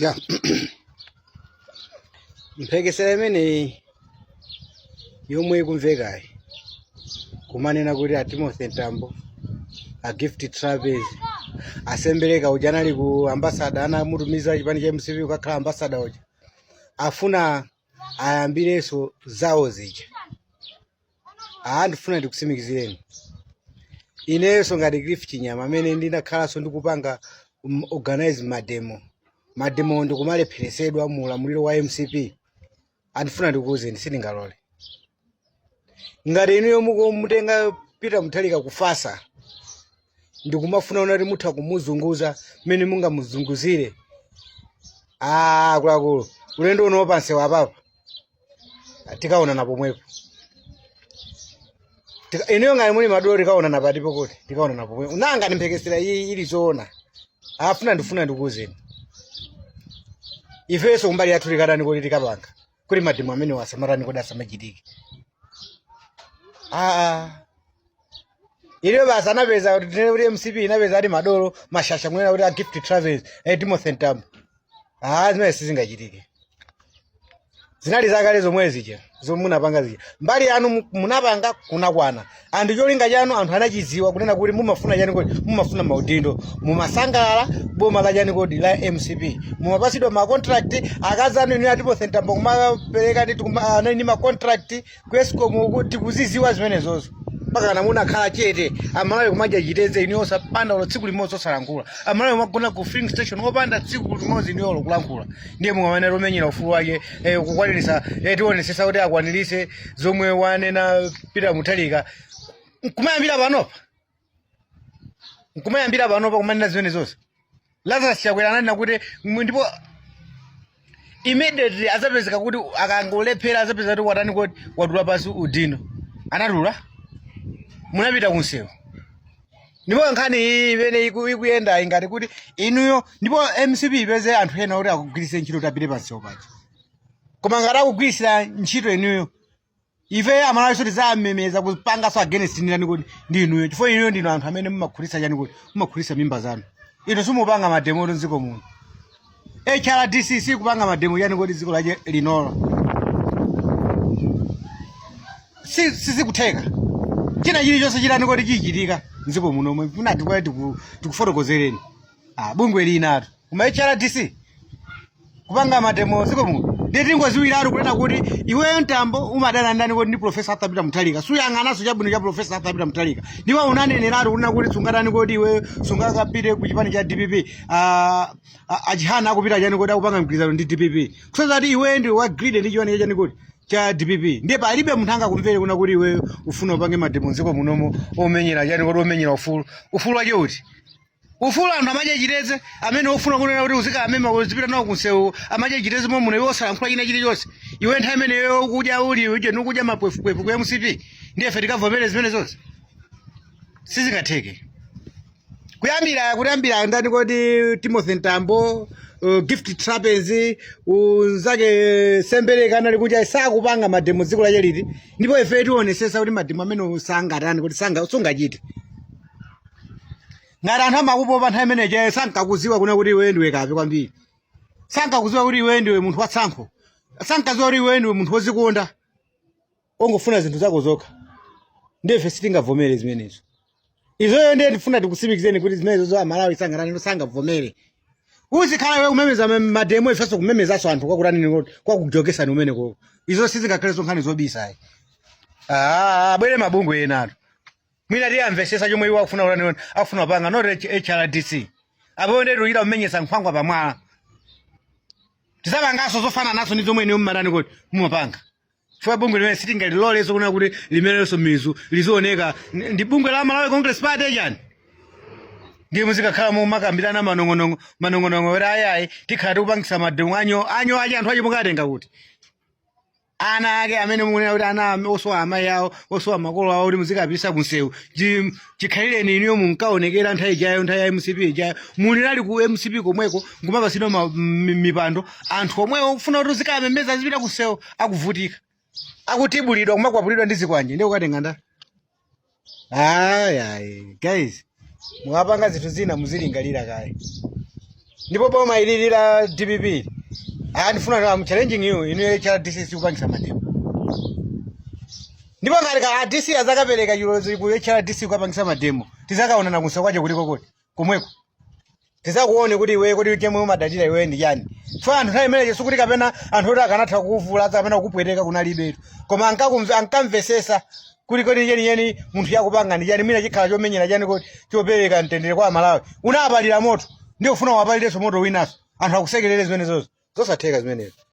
ja mphekesera imeneyi yomwe ikumvekayi kumanena kuti a timothy ntambo a gift trapence a sembereka uja anali ku ambasada anamutumiza chipani cha mcp kukakhala ambasada uja afuna ayambirenso zawo zija Ah, ndifuna ndikutsimikizireni inenso ngati gift chinyama amene ndinakhalanso ndikupanga um, organize mademo mademo ndikumalepheresedwa mu ulamuliro wa mcp aa ndifuna ndikuuzeni sindingalole ngati inuyo mukutenga peter mutharika kufasa ndikumafuna munati mutha kumuzunguza mmene mungamuzunguzire akuluakulu ulendo uno pansewu apapa tikaonana pomwepo Tika- inuyo ngati muli madolo tikaonana patipo kuti tikaonana pomwepo nanga ndimphekesera iyi ili zoona afuna ndifuna ndikuuzeni ifenso kumbali yathu tikadani kuti tikapanga kuti mademo amene asamatani kodi asamachitike aa iliyo basi anapeza kuti tinene kuti mcp inapeza ati madolo mashasha kunena kuti a gift trapence eh, timothy ntambo Ah, zimene sizingachitike. Zinali zakale zomwe zija, zomwe munapanga zija. Mbali yanu mu- munapanga kunakwana. Anthu cholinga chanu anthu anachidziwa kunena kuti mumafuna chani kodi, mumafuna maudindo, mumasangalala boma la chani kodi la MCP. Mumapatsidwa ma contract, akazi anu inu a timothy ntambo kumapereka ndi tikuma anali ndi ma contract ku escom uku tikuziziwa zimenezozo mpakana munakhala chete amalawi kumadya chitedze inuyo osapanga olo tsiku limodzi osalankhula amalawi kumagona ku filling station osapanga tsiku limodzi inuyo olo kulankhula ndiye mumanena kuti omenyera ufulu wake eh, kukwanirisa eh, tionesesa kuti akwanirise zomwe wanena peter mutharika nkumayambira panopa nkumayambira panopa kumanena zimene zonse lazarus chakwera ananena kuti mwe- ndipo immediately azapezeka kuti akangolephera azapezeka kuti watani kodi watula pansi udindo anatula munapita kunsewu ndipo nkhani iyi imene iku- ikuyenda ingati kuti inuyo ndipo mcp ipeze anthu ena kuti akugwiritse ntchito tapite pansewu paja koma ngati akugwiritsira ntchito inuyo ife amalawiso tizamemeza kupangaso against ndani kodi ndi inuyo chifukwa inuyo ndinu anthu amene mumakhulisa chani kodi mumakhulisa mimba zanu inu simupanga mademo oti mdziko muno hrdc sikupanga mademo chani kodi dziko lache linolo Si- sizikutheka china chilichonse chitani kodi chichitika mdziko muno mwina ndimati kwa tiku- tikufotokozereni ah bungwe linatu kuma hrdc kupanga mademo ziko muno ndiye tingoziwiratu kunena kuti iweyo mtambo umadana ndani kodi ndi profesa arthur peter muthalika suyang'ananso chabwino cha profesa arthur peter muthalika ndipo unaneneratu kunena kuti sungatani kuti iweyo sungakapite ku chipani cha dpp ah, ah, achihana akupita chani kodi akupanga mgwirizano ndi dpp kusoza kuti iweyo ndi wa greed ndi chipani chachani kodi cha dpp ndiye palibe munthu angakumvere kuna kuti iweyo ufuna upange mademo ziko munomo omenyera chani kodi omenyera ufulu ufulu wache uti ufulu anthu amadya chitedze amene ofuna kunena kuti uzikawamema uzipita nawo kunsewu amadya chitedze momwe muno iwe osalankhula china chilichonse iwe nthawi imeneyo ukudya uli uje nukudya mapwefupefu ku mcp ndiye ife tikavomere zimene zonse sizingatheke kuyambira kuyambira ndani kodi timothy ntambo uh, gift trapence unzake sembereka anali kuja sakupanga mademo dziko lache liti ndipo ife tionesesa kuti mademo amene sungatani kuti sanga- sungachite ngati anthu amakupopa nthawi imene ijayo sankakuziwa kuna kuti iwe ndiwe kape kwambiri sankakuziwa kuti iwe ndiwe munthu watsankho sankaziwa kuti iwe ndiwe munthu wozikonda ongofuna zinthu zako zokha ndife sitingavomere zimenezo izoyo ndiye ndifuna tikusimikizeni kuti zimenezo zo amalawi sangatani sangavomere uzikhala iwe kumemeza ma- mademo ifenso kumemezanso anthu kwakutani kwakujokesani umene koko izo sizingakhale so nkhani zobisayi abwere mabungwe enatu mwina tiwamvesesa chomwe iwo akufuna kutani akufuna kupanga not H- hrdc apo ndetu ukumenyesa nkhwangwa pamwala tizapanganso zofanananso ndi zomwe inu mmatani kuti mumapanga chifukwa bungwe limene sitingalilolenso kuna kuti limerenso mizu lizioneka Ndi- ndi bungwe la malawi congress party chani ndiye muzikakhala mumakambirana manong'onong'o manong'onong'o kuti ayayi tikhala tikupangisa mademo anyo anyo aja anthu aja mukatenga kuti ana ake amene mukunena kuti ana am- osowa amayi awo osowa makolo awo kuti muzikapitisa kunsewu Chi- chikhalireni inuyo munkaonekera nthawi ijayo nthawi ya mcp ijayo munali ku mcp komweko nkumapasidwa ma- mi- mipando anthu omwewo kufuna kuti uzikamemeza azipita kunsewu akuvutika akutibulidwa kumakwapulidwa ndi zikwanje ndi kukatenga ndani ayi ayi guys mukamapanga zinthu zina muzilingalira kaye ndipo boma ilili la dpp ili, ah, ndifuna I'm challenging you inu hrdc sikupangisa mademo ndipo ngati ka dc azakapereka chilolezo ku hrdc kupangisa mademo tizakaonana kunsewu kwake kuliko kuti komweko tizakuone kuti iwe kuti chomwe umadalira iwe ndi chani chifukwa anthu nthawi imeneyo sikuti kapena anthu oti akanatha kukuvula kapena kukupweteka kunalibetu koma ankakumve- ankamvesesa kuti kodi chenicheni munthuyu akupanga ndi chani mwina chikhala chomenyera chani kuti chopereka mtendere kwa amalawi unapalira moto ndiye ufuna upalirenso moto winaso anthu akusekerere zimenezozo zosatheka zimenezo